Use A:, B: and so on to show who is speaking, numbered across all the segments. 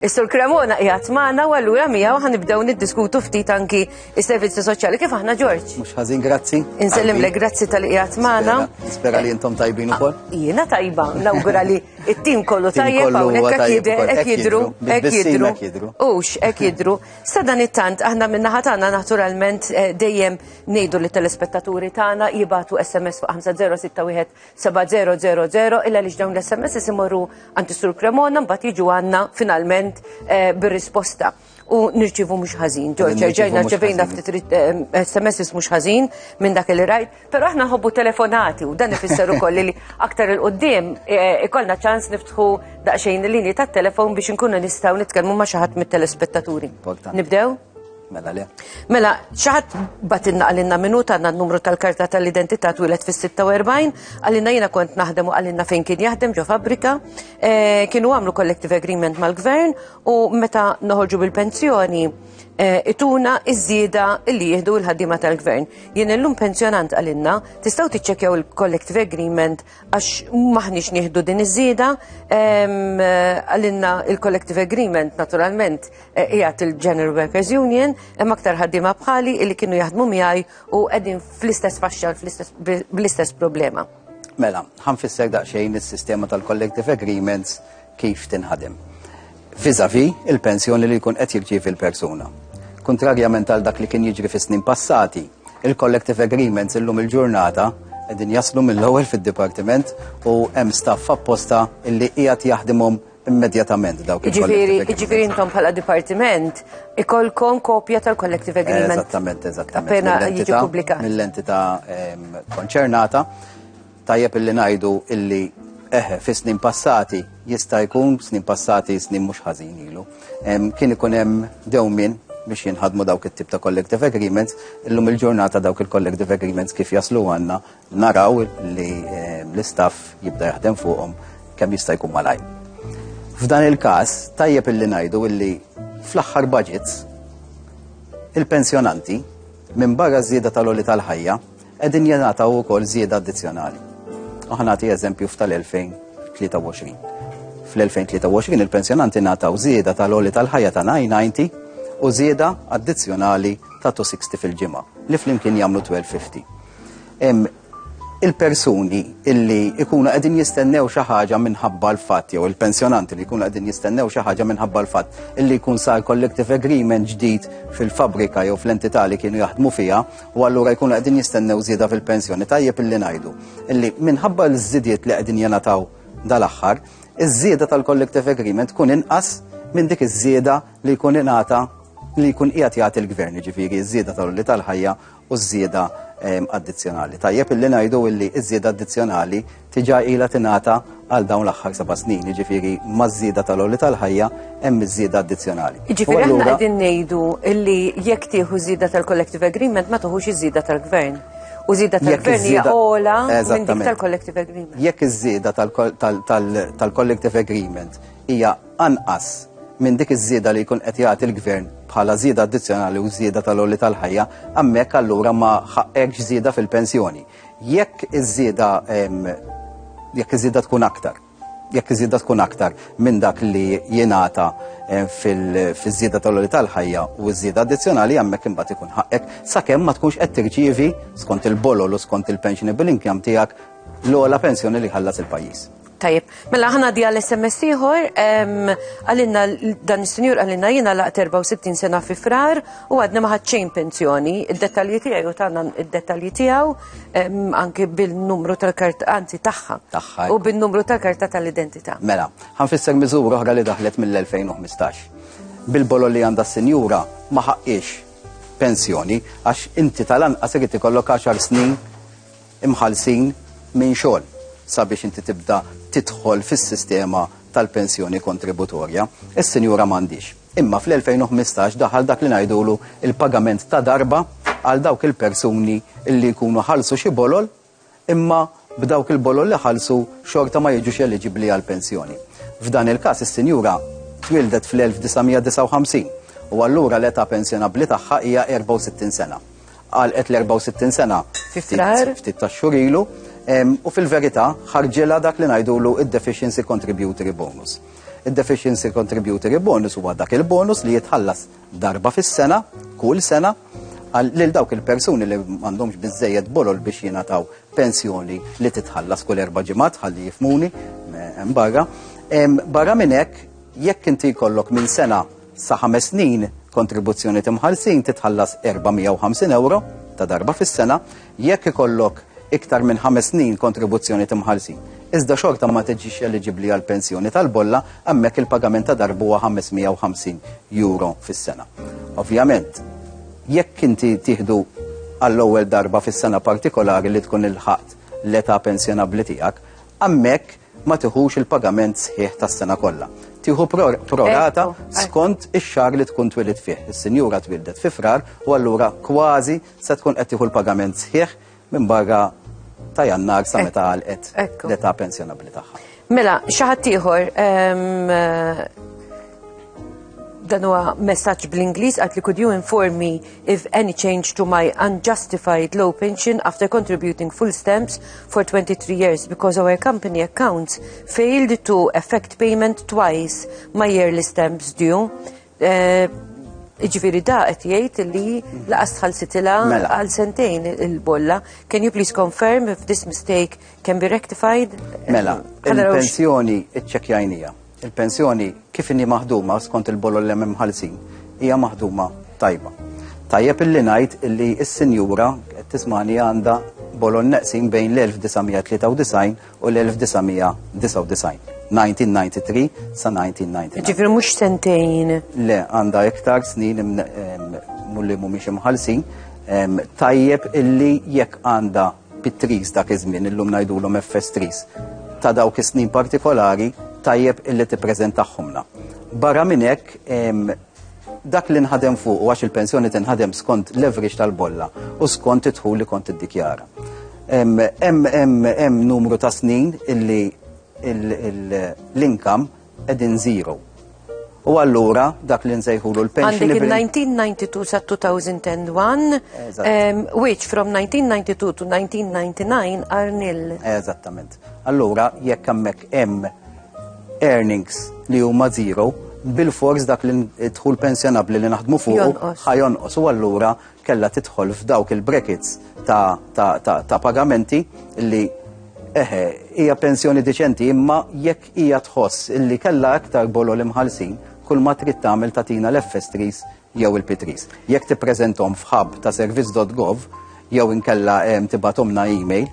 A: Is-Sur Cremona qiegħed magħna u allura miegħu ħa nibdew niddiskutu ftit anki is-servizzi soċjali kif aħna Ġorġ. Mhux ħażin grazzi.
B: Insellimlek grazzi
A: tal qiegħed magħna. Nispera li intom
B: tajbin ukoll. Ah, jiena tajba,
A: nawgura li it-tim kollu tajjeb hawnhekk qed jidher qed jidru, qed jidru. Ux qed jidru. Sa dan it-tant aħna minn naħa tagħna naturalment eh, dejjem ngħidu li telespettaturi tagħna jibatu SMS fuq 5061 7000 illa li dawn l-SMS imorru għand sur Cremona mbagħad jiġu għandna finalment eh, bir-risposta u nirċivu mhux ħażin. Ġorġa, ġejna ċevejna ftit SMS eh, mhux ħażin minn dak li rajt, però aħna nħobbu telefonati u dan ifisser ukoll li aktar il qudiem eh, ikollna ċans niftħu daqsxejn il-linji tat-telefon biex inkunu nistgħu nitkellmu ma' xi ħadd mit-telespettaturi. Nibdew? Mela le.
B: Mela, xaħat
A: batinna għalinna minuta għanna n-numru tal-karta tal-identità twilet fis-46, għalinna jina kont naħdem u għalinna fejn kien jaħdem ġo fabrika, eh, kienu għamlu collective agreement mal-gvern u meta noħorġu bil-pensjoni eh, ituna iż-żieda li jihdu l-ħaddima tal-gvern. Jien illum pensjonant għalinna, tistaw tiċċekjaw il-collective agreement għax maħniex nieħdu din iż-żieda, ehm, għalinna il-collective agreement naturalment qiegħed il-General Workers Union, hemm aktar ħaddiema bħali li kienu jaħdmu miegħi u qegħdin fl-istess faxxa bl-istess problema. Mela,
B: ħanfisser daqsxejn is-sistema tal-collective agreements kif tinħadem. Fizavi il-pensjoni li jkun qed jirċievi l-persuna. Kontrarjament għal dak li kien jiġri fis-snin passati, il-collective agreements illum il-ġurnata qegħdin jaslu mill-ewwel fid-dipartiment u hemm staff apposta illi qiegħed jaħdimhom immedjatament dawk il-Jiġifieri jiġifieri intom bħala
A: dipartiment ikolkom kopja tal-collective agreement. Eżattament, eżattament. Appena
B: jiġi
A: pubblikat. Mill-entità ehm,
B: konċernata tajjeb illi ngħidu illi eħe fi snin passati jista' jkun snin passati snin mhux ħażin ilu. Ehm, kien ikun hemm dewmin biex jinħadmu dawk it-tip ta' collective agreements, illum il-ġurnata dawk il-collective agreements kif jaslu għanna Naraw li eh, l-istaff jibda jaħdem fuqhom kemm jista' jkun malaj. F'dan il-każ tajjeb illi ngħidu illi fl-aħħar budgets il-pensjonanti minn barra żieda tal-oli tal-ħajja qegħdin jingħataw ukoll żieda addizzjonali. U ħanati eżempju f'tal-2023. Fl-2023 il-pensjonanti nataw żieda tal-oli tal-ħajja ta' 990 u żieda addizzjonali ta' 260 fil-ġimgħa li flimkien jagħmlu 1250. il-persuni illi ikunu qegħdin jistennew xi ħaġa minħabba l-fatt jew il-pensjonanti li jkunu qegħdin jistennew xi ħaġa minħabba l-fatt illi jkun sar collective agreement ġdid fil-fabrika jew fl-entità li kienu jaħdmu fiha u allura jkunu qegħdin jistennew żieda fil-pensjoni tajjeb illi ngħidu illi minħabba l-żidiet li qegħdin jenataw dal-aħħar iż-żieda tal-collective agreement tkun inqas minn dik iż-żieda li jkun ingħata li jkun qiegħed jagħti l-gvern, ġifieri ż-żieda tal-li tal-ħajja u ż-żieda addizzjonali. Tajjeb illi ngħidu illi ż-żieda addizzjonali tiġa ilha tingħata għal dawn l-aħħar seba' snin, jiġifieri maż-żieda tal-għoli tal-ħajja hemm iż-żieda addizzjonali. Jiġifieri aħna qegħdin
A: ngħidu illi jekk tieħu żieda tal-collective agreement ma toħux iż-żieda tal-gvern. U żieda tal-gvern hija ola minn dik tal-collective agreement. Jekk iż-żieda
B: tal-collective agreement hija anqas minn dik iż-żieda li jkun qed jagħti l-Gvern bħala żieda addizzjonali u żieda tal-għoli tal-ħajja, hemmhekk allura ma ħaqqekx żieda fil-pensjoni. Jekk iż-żieda jekk iż-żieda tkun aktar jekk iż-żieda tkun aktar minn dak li jingħata eh, fiż-żieda tal-għoli tal-ħajja u ż-żieda addizzjonali hemmhekk imbagħad ikun ħaqqek sakemm ma tkunx qed tirċievi skont il-bolol u skont il-pensionable income tiegħek l-ogħla pensjoni li ħallas il-pajjiż. Tajjeb, mela
A: ħana di għal SMS ieħor, għalinna dan is-sinjur għalinna jiena laqt 64 sena fi frar u għadna ma ħadxejn pensjoni, id-dettalji tiegħi u tagħna id-dettalji tiegħu anke bil-numru tal-kart anzi tagħha. Tagħha. U bin-numru tal-karta tal-identità. Mela, ħanfisser
B: miżura oħra li daħlet mill-2015. Bil-bolo li għandha s-sinjura ma ħaqqiex pensjoni għax inti tal-anqas irid ikollok 10 snin imħallsin minn xogħol sabiex inti tibda tidħol fis-sistema tal-pensjoni kontributorja. Is-sinjura m'għandhiex. Imma fl-2015 daħal dak li ngħidulu il-pagament ta' darba għal dawk il-persuni li jkunu ħallsu xi bolol imma b'dawk il-bolol li ħallsu xorta ma jiġux eliġibbli għal pensjoni. F'dan il-każ is-sinjura twildet fl-1959 u allura l-età pensjonabbli tagħha hija 64 sena. għalqet l-64 sena ftit ta' xhur ilu u fil-verità ħarġilha dak li ngħidulu id-deficiency contributory bonus. Id-deficiency contributory bonus huwa dak il-bonus li jitħallas darba fis-sena, kull sena, lil dawk il-persuni li m'għandhomx biżejjed bolol biex jingħataw pensjoni li titħallas kull erba' ġimgħat ħalli jifmuni hemm barra. Barra minn hekk jekk inti jkollok minn sena Sa ħames snin, kontribuzzjoni t'imħallsin titħallas €450 ta' darba fis-sena jekk ikollok iktar minn ħames snin kontribuzzjoni t'imħallsin. Iżda xorta ma tiġix eliġibbli għall-pensjoni tal-bolla, hemmhekk il-pagament ta' darba huwa €550 fis-sena. Ovvjament, jekk inti tieħdu għall-ewwel darba fis-sena partikolari li tkun ilħaqt l-età pensjonabbli tiegħek, hemmhekk ma tiħux il-pagament sħiħ tas-sena kollha. Tieħu prorata skont ix-xahar li tkun twilid fih. Is-sinjura twildet fi frar u allura kważi se tkun qed tieħu l-pagament sħiħ minn barra ta' jannar sa meta għalqet l-età pensjonabbli tagħha. Mela, xaħat
A: ieħor ehm, dan huwa messaġġ bl-Ingliż għad li could you inform me if any change to my unjustified low pension after contributing full stamps for 23 years because our company accounts failed to effect payment twice my yearly stamps due. Eh, Iġviri da qed jgħid li laqas tħallsitilha Mela. għal sentejn il-bolla. Can you please confirm if this mistake can be rectified? Mela, Għal
B: rawx- il-pensjoni iċċekjajnija. Il-pensjoni kif inhi maħduma skont il-bolol li hemm imħallsin hija maħduma tajba. Tajjeb illi ngħid illi s-sinjura qed tismani għandha bolol neqsin bejn l-1993 u l-1999. 1993 sa 1999. Ġifri mhux sentejn.
A: Le, għandha
B: iktar snin mulli mhumiex imħallsin. Tajjeb illi jekk għandha Pit-tris dak iż-żmien, illum ngħidulhom FS tris, ta' dawk is-snin partikolari tajjeb illi tippreżentahomna. Barra minn hekk dak li nħadem fuq u għax il-pensjoni tinħadem skont l-average tal-bolla u skont it li kont iddikjara. Hemm numru ta' snin illi l-inkam qegħdin zero. U allura dak li nsejħulu l-pension.
A: Għandek 1992 sa 2001, um, which from 1992 to 1999 are nil. Eżattament.
B: Allura jekk hemmhekk hemm earnings li huma zero, bil-fors dak li tħul pensjonabli li naħdmu fuq ħajonqos u allura kella tidħol f'dawk il-brackets ta', ta, ta, ta pagamenti li eħe, hija pensjoni deċenti imma jekk Hija tħoss illi kellha aktar bolol imħallsin kull ma trid tagħmel tagħtina l-FS3s jew il-P3s. Jekk tippreżenthom f'hub ta' servizz.gov jew inkella ehm, tibatomna email,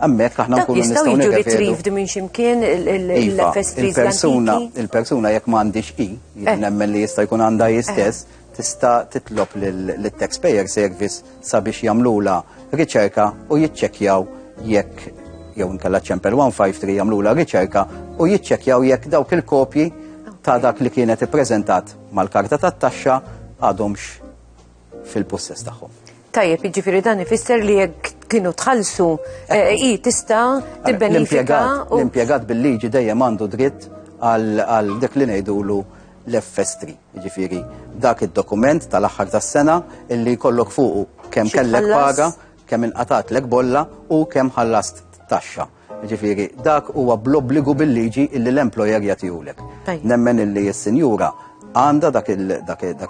B: Ammek, aħna nkunu nistgħu jiġu retrieved minn
A: ximkien il-FS3 iva, il-persuna jekk m'għandix
B: i, eh. nemmen li jista' jkun għandha jistess, eh. tista' titlob lit-taxpayer service sabiex jagħmlulha riċerka u jiċċekkjaw jekk jew inkella ċempel 153 jagħmlulha riċerka u jiċċekkjaw jekk dawk il-kopji ta' dak li kienet ippreżentat mal-karta tat-taxxa għadhomx fil-pussess tagħhom. Tajjeb, jiġifieri
A: dan ifisser li jekk kienu tħallsu eh, i tista' tibbenifika. L-impjegat
B: bil-liġi dejjem għandu dritt għal dik li ngħidulu l-FS3, jiġifieri dak id-dokument tal-aħħar tas-sena illi jkollok fuqu kemm kellek paga, kemm inqatat lek bolla u kemm ħallast taxxa. Jiġifieri dak huwa bl-obbligu bil-liġi illi l-employer jagħtihulek. Nemmen illi s-sinjura għandha dak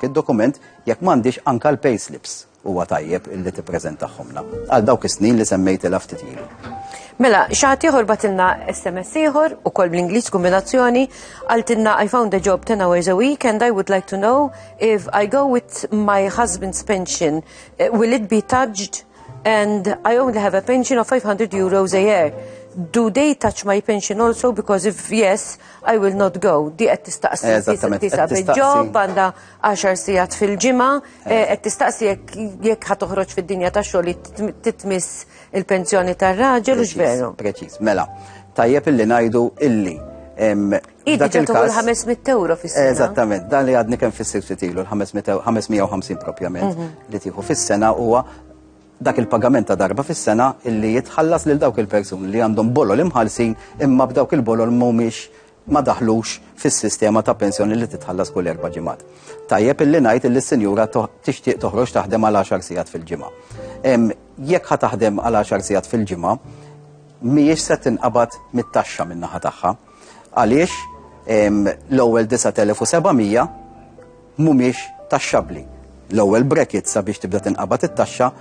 B: id-dokument jekk m'għandix anka l-payslips. Huwa tajjeb illi tippreżentahomlna għal dawk is-snin li semmejtilha ftit ilu. Mela,
A: xaħat ieħor batilna SMS ieħor u kol bl-Ingliż kombinazzjoni għaltinna I found a job 10 hours a week and I would like to know if I go with my husband's pension eh, will it be touched and I only have a pension of 500 euros a year. Do they touch my pension also because if yes, I will not go. Di qed tistaqsi tisa bil-ġob għandha 10 sigħat fil-ġimgħa Eh, qed tistaqsi jekk ħa toħroġ fid-dinja ta' xogħol titmiss il-pensjoni tar-raġel u x'veru. Preċiż, mela.
B: Tajjeb illi ngħidu illi
A: Dak il-kas. 500 euro fis-sena. Eżattament, dan li għadni
B: kemm fis-sirsi tilu, l-550 propjament mhm. li tieħu fis-sena huwa dak il-pagament ta' darba fis-sena illi jitħallas lil dawk il-persuni li għandhom bolol imħalsin imma b'dawk il-bolol mhumiex ma daħlux fis-sistema ta' pensjoni li titħallas kull erba' ġimgħat. Tajjeb illi ngħid illi s-sinjura tixtieq toħroġ taħdem għal 10 sigħat fil-ġimgħa. Jekk ħa taħdem għal 10 sigħat fil-ġimgħa, mhijiex se tinqabad mit-taxxa min-naħa tagħha. Għaliex l-ewwel 9700 mhumiex taxxabbli. L-ewwel brekit sabiex tibda tinqabad it-taxxa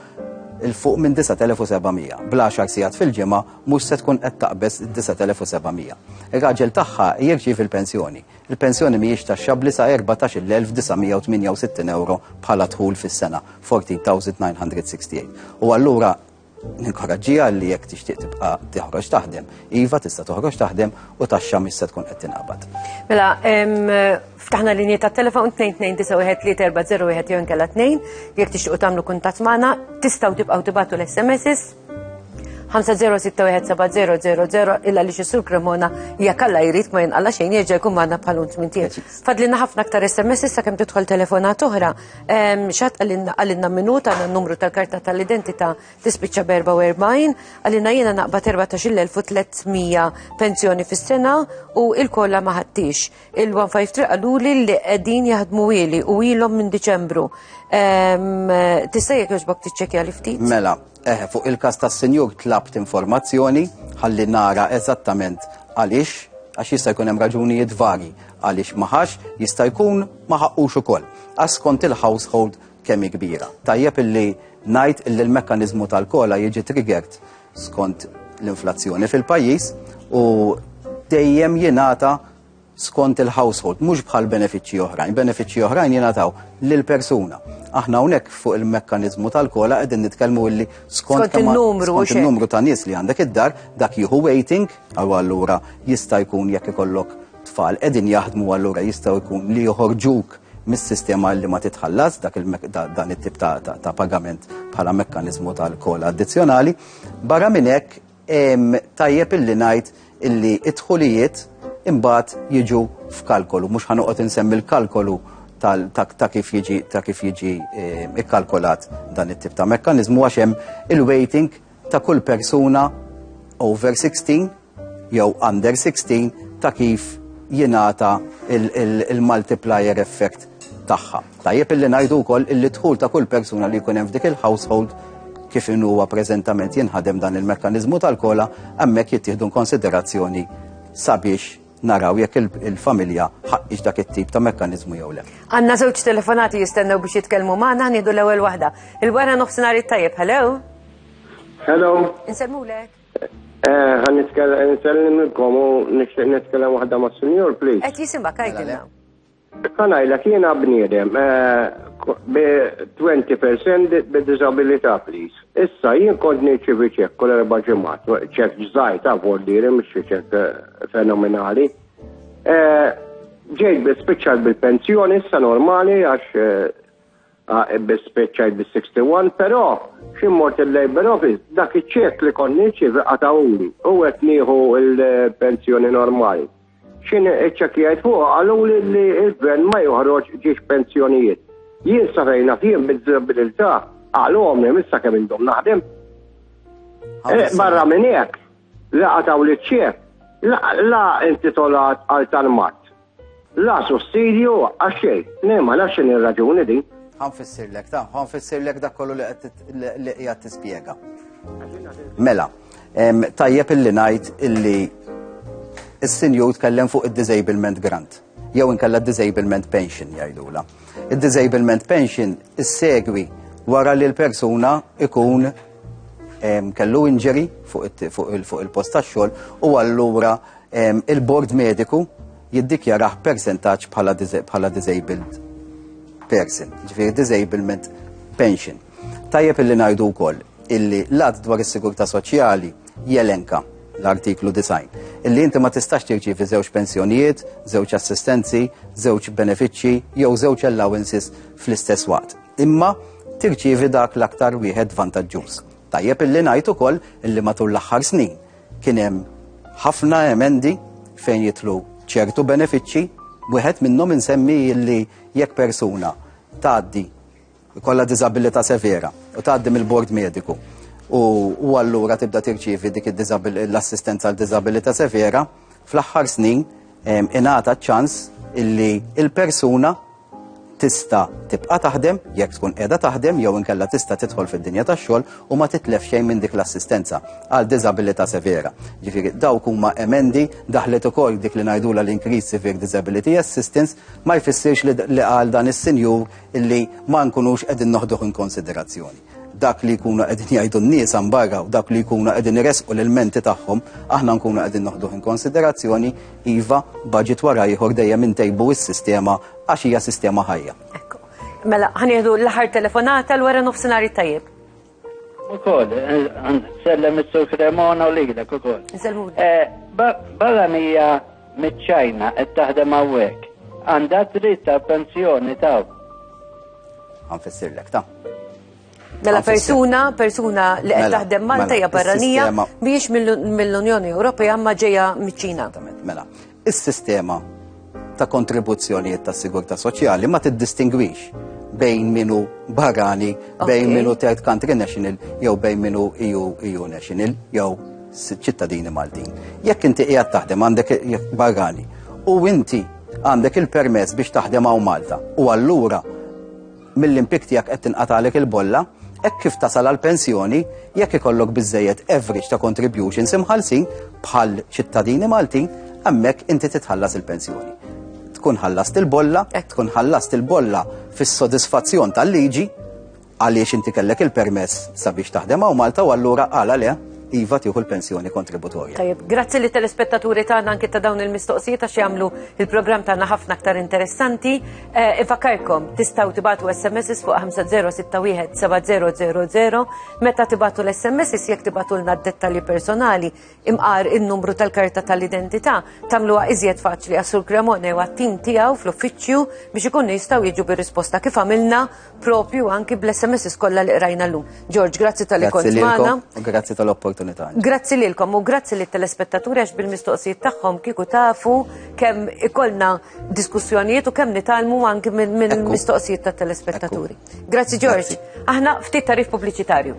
B: 'l fuq minn 9,700. Bl-għaxar sigħat fil-ġimgħa mhux se tkun qed taqbeż id-9,700. Ir-raġel tagħha jirċievi l-pensjoni. Il-pensjoni mhijiex taxxabbli sa 14,968 ewro bħala dħul fis-sena, 14,968. U allura, Ninkoraġġiha li jekk tixtieq tibqa' toħroġ taħdem. Iva tista' toħroġ taħdem u taxxa mhix se tkun qed tinqabad. Mela,
A: ftaħna linji ta' telefon 2291340 jew inkella 2 jekk tixtiequ tagħmlu kuntatt magħna, tistgħu tibqgħu tibgħatu l-SMS 5061700 illa li xissur Cremona jekk alla jrid ma jinqalla xejn jieġa jkun magħna bħalun tmintiet. Fadlina ħafna aktar SMS issa kemm tidħol telefonat oħra. Xat għalinna minuta għanna numru tal-karta tal-identita tispiċċa b-44, għalinna jena naqba 14.300 pensjoni fis-sena u il-kolla maħattix. Il-153 għallu li li għedin jaħdmu ili u ilom minn Deċembru. Tista' jek joġbok tiċċekja li ftit? Mela, Eħe, fuq
B: il-każ tas-Sinjur tlabt informazzjoni ħalli nara eżattament għaliex għax jista' jkun hemm raġunijiet varji għaliex maħax jista' jkun ma ħaqqux ukoll. Għas kont il-household kemm kbira. Tajjeb illi ngħid illi l-mekkaniżmu tal-kola jiġi triggert skont l-inflazzjoni fil-pajjiż u dejjem jingħata skont il-household, mhux bħal benefiċċji oħrajn. Benefiċċji oħrajn jingħataw lil persuna. Aħna hawnhekk fuq il-mekkaniżmu tal-kola qegħdin nitkellmu illi skont il-numru ta' nies li għandek id-dar, dak jieħu waiting, għal allura jista' jkun jekk ikollok tfal qegħdin jaħdmu allura jistgħu jkun li joħorġuk mis-sistema li ma titħallas dak dan it-tip ta' pagament bħala mekkaniżmu tal-kola addizzjonali. Barra minn hekk Tajjeb illi ngħid illi id-dħulijiet imbagħad jiġu f'kalkolu, mhux ħanoqgħod insemmi l-kalkolu ta' kif jiġi ta' kif jiġi ikkalkolat dan it-tip ta' mekkaniżmu għax hemm il-waiting ta' kull persuna over 16 jew under 16 ta' kif jingħata il-multiplier effect tagħha. Tajjeb illi ngħidu wkoll illi dħul ta' kull persuna li jkun hemm f'dik il-household kif in huwa preżentament jinħadem dan il-mekkaniżmu tal-kola hemmhekk jittieħdu konsiderazzjoni sabiex naraw jekk il-familja ħaqqix dak it-tip ta' mekkaniżmu jew le. Għandna żewġ telefonati
A: jistennew biex jitkellmu magħna nieħdu l-ewwel waħda. Il-wara nofsinhar it-tajjeb, hello? Hello.
C: Insemmulek.
A: Eh,
C: Għan nitkellem il-kom u nixtieq nitkellem waħda ma' senior, please. Qed jisimha kajkilna.
A: Issa ngħidlek
C: jiena bniedem bi 20% bi disabilità please. Issa jien kont nirċievi ċekk kull erba' ġimgħat, ċekk ġżgħir ta' vollieri mhux xi ċekk eh, fenomenali. Eh, ġejt bi spiċċajt bil-pensjoni issa normali għax eh, ah, bi spiċċajt bil-61, però xi mort il-Labor Office dak iċ-ċekk li kont nirċievi qatawli u qed nieħu l-pensjoni normali. X'in iċċekkjajt fuqha qaluli li l-gvern ma joħroġ ġiex pensjonijiet. Jien sa fejn naf jien bid-diżabilità qalhomli minn sa kemm indum naħdem. Eh, barra minn hekk, la qataw li ċċef, la intitolat għal tal-mat. La sussidju għax xejn, nemma nafx x'in ir-raġuni din. Ħanfissirlek, ta'
B: ħanfissirlek dak kollu li qiegħed tispjega. Mela, Tajjeb illi ngħid illi is-sinjur tkellem fuq id-disablement grant jew inkella disablement pension jgħidula. Id-disablement pension issegwi wara li l-persuna ikun kellu injury fuq il-post tax-xogħol u allura il-bord mediku jiddikjaraħ percentaġġ bħala disabled person, ġifieri disablement pension. Tajjeb illi ngħidu wkoll illi l-att dwar is-sigurtà soċjali jelenka l-artiklu 90. Illi inti ma tistax tirċivi żewġ pensjonijiet, żewġ assistenzi, żewġ benefiċċji jew żewġ allowances fl-istess waqt. Imma tirċivi dak l-aktar wieħed vantaġġuż. Tajjeb illi ngħid ukoll illi matul l-aħħar snin kien hemm ħafna emendi fejn jitlu ċertu benefiċċji, wieħed minnhom insemmi illi jekk persuna tgħaddi Kolla diżabilità severa u tgħaddi mill-bord mediku u allura tibda tirċievi dik l-assistenza għal diżabilità severa fl-aħħar snin ingħata ċans illi il-persuna tista' tibqa' taħdem jekk tkun qiegħda taħdem jew inkella tista' tidħol fid-dinja tax-xogħol u ma titlef xejn minn dik l-assistenza għal diżabilità severa. Ġifieri dawk huma emendi daħlet ukoll dik li ngħidula l-increase severe disability assistance ma jfissirx li għal dan is-sinjur illi ma nkunux qegħdin noħduh in konsiderazzjoni. Dak li jkunu qegħdin jgħidu n-nies barra u dak li jkunu qegħdin iresqu l-menti tagħhom, aħna nkunu qegħdin noħduh in konsiderazzjoni, iva budget wara ieħor dejjem intejbu s-sistema għax hija sistema ħajja. Mela,
A: ħanieħdu l-aħħar telefonata l-wara nofsinhar tajjeb. Ukoll,
D: nsellem is-Sur Cremona u lilek ukoll. Nsellmu. Barranija miċ-Ċajna qed taħdem hawnhekk. Għandha dritt għal pensjoni ta' Għanfissirlek
B: ta' Mela
A: persuna, persuna li qed mela, taħdem Malta mela, hija barranija biex mill-Unjoni Ewropea ma ġejja miċ-Ċina. Mela,
B: Is-sistema ta' kontribuzzjonijiet ta' sigurtà soċjali ma tiddistingwix bejn minu barrani, bejn minu third country national, jew bejn minu EU, EU national, jew ċittadini Maltin. Jekk inti qiegħed taħdem għandek barrani u inti għandek il-permess biex taħdem għaw Malta u allura mill-impjieg tiegħek qed tinqatagħlek il-bolla, hekk kif tasal għall-pensjoni, jekk ikollok biżżejjed average ta' contributions imħallsin bħal ċittadini Maltin, hemmhekk inti titħallas il-pensjoni. Tkun ħallast il-bolla, hekk tkun ħallast il-bolla fis-sodisfazzjon tal-liġi għaliex inti kellek il-permess sabiex taħdem hawn Malta u allura għala le iva tieħu l-pensjoni kontributorja. Tajib, grazzi li
A: telespettaturi tagħna anke ta' dawn il-mistoqsijiet għax jagħmlu il-programm tagħna ħafna aktar interessanti. Eh, Ifakarkom, tistaw tibatu SMS fuq 50617000 meta tibatu l-SMS jek tibatu l dettali personali imqar il-numru tal-karta tal-identità tamluwa iżjed faċli għasur Cremone u għattim tijaw fl-uffiċju biex ikun jistaw jiġu bir-risposta kif għamilna propju anki bl-SMS kollha li qrajna llum. George, grazzi tal-li kont magħna. Grazzi tal-opportunità.
B: Grazzi lilkom
A: u grazzi lit telespettaturi għax bil-mistoqsijiet tagħhom kieku tafu kemm ikollna diskussjonijiet u kemm nitalmu anki minn mistoqsijiet tat telespettaturi. Grazzi George. Aħna ftit tarif pubbliċitarju.